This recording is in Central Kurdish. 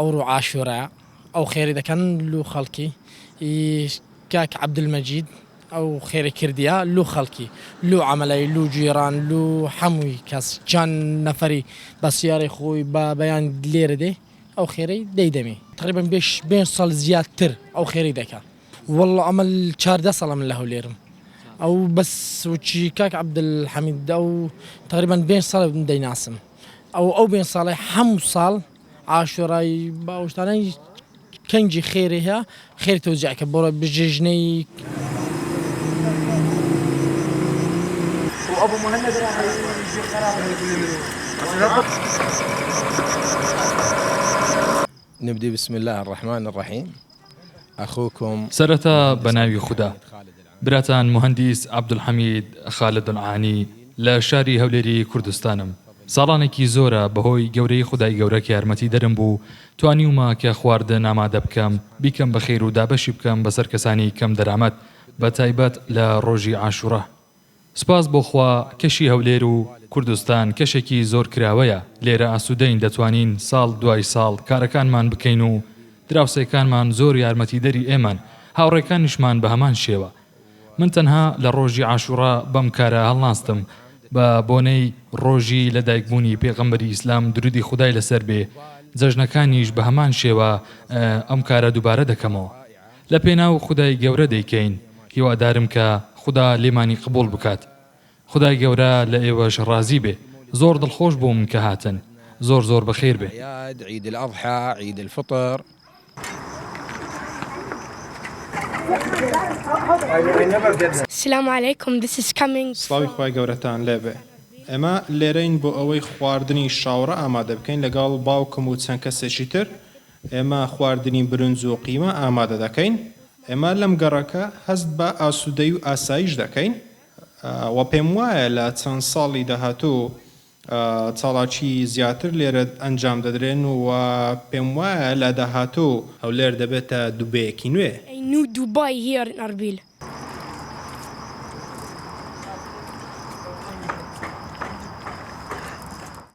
ئەوڕۆ عاشورا ئەو خێری دەکەن لو خەڵکی کاک عبدمەجید ئەو خێری کردیا لو خەڵکی لو ئەمەلای لو جیێران لو هەمووی کەس چەند نەفەری بە سیارە خۆی بە بەیان لێرە دێ ئەو خێرەی دەیدەێ تقریبم بێش بێ سەڵ زیاتر ئەو خێری دەکە واللە ئەمە چاردە ساڵە من لە هەولێرم ئەو بەس وچی کاک عبدالحمید ئەو تقریبان بێن ساڵ دەیناسم ئەو ئەو بێن ساڵی هەموو ساڵ عاشۆڕایی باوشتانەی کەنجی خێری هەیە خێر تۆجیعکە بۆ بژێژنەی وأبو مهند نبدي بسم الله الرحمن الرحيم سەرەتا بە ناوی خودا. براتان موهەندیس عەبدولحەمید خالد عانی لە شاری هەولێری کوردستانم. ساڵانێکی زۆرە بەهۆی گەورەیی خودای گەورە کە یارمەتیدەرم بوو توانیومە کە خواردن ئامادە بکەم بیکەم بەخێر و دابەشی بکەم بەسەر کەسانی کەم دەرامەت بە تایبەت لە ڕۆژی عاشورا سپاس بۆ خوا کەشی هەولێر و کوردستان کەشێکی زۆر کراوەیە، لێرە ئاسوودەین دەتوانین ساڵ دوای ساڵ کارەکانمان بکەین و دراوسێکانمان زۆر یارمەتیدەری ئێمەن، هاوڕێکانیشمان بە هەمان شێوە. من تەنها لە ڕۆژی عاشوڕا بەم کارە هەڵناستم بە بۆنەی ڕۆژی لە دایکبوونی پێغەمبەری ئیسلام درودی خودای لەسەر بێ، جەژنەکانیش بە هەمان شێوە ئەم کارە دوبارە دەکەمەوە. لە پێناو خودای گەورە دەیکەین هیوادارم کە خودا لێمانی قبوڵ بکات خودای گەورە لە ئێوەش ڕازی بێ زۆر دڵخۆش بووم کە هاتن زۆر زۆر بەخێر بێن. اعیاد عید الاضحی عید الفطر. سلام علیکم this is coming from. سڵاوی خوای گەورەتان لێبێ ئێمە لێرەین بۆ ئەوەی خواردنی شاوڕە ئامادە بکەین لەگەڵ باوکم و چەند کەسێکی تر. ئێمە خواردنی برنج و قیمە ئامادە دەکەین. ئێمە لەم گەڕەکە هەست بە ئاسوودەیی و ئاسایش دەکەین و پێم وایە لە چەند ساڵی داهاتوو چاڵاکی زیاتر لێرە ئەنجام دەدرێن و پێم وایە لە داهاتوو هەولێر دەبێتە دوبەیەکی نوێ. ئەی نو دوبای هیەر ان ئەربیل.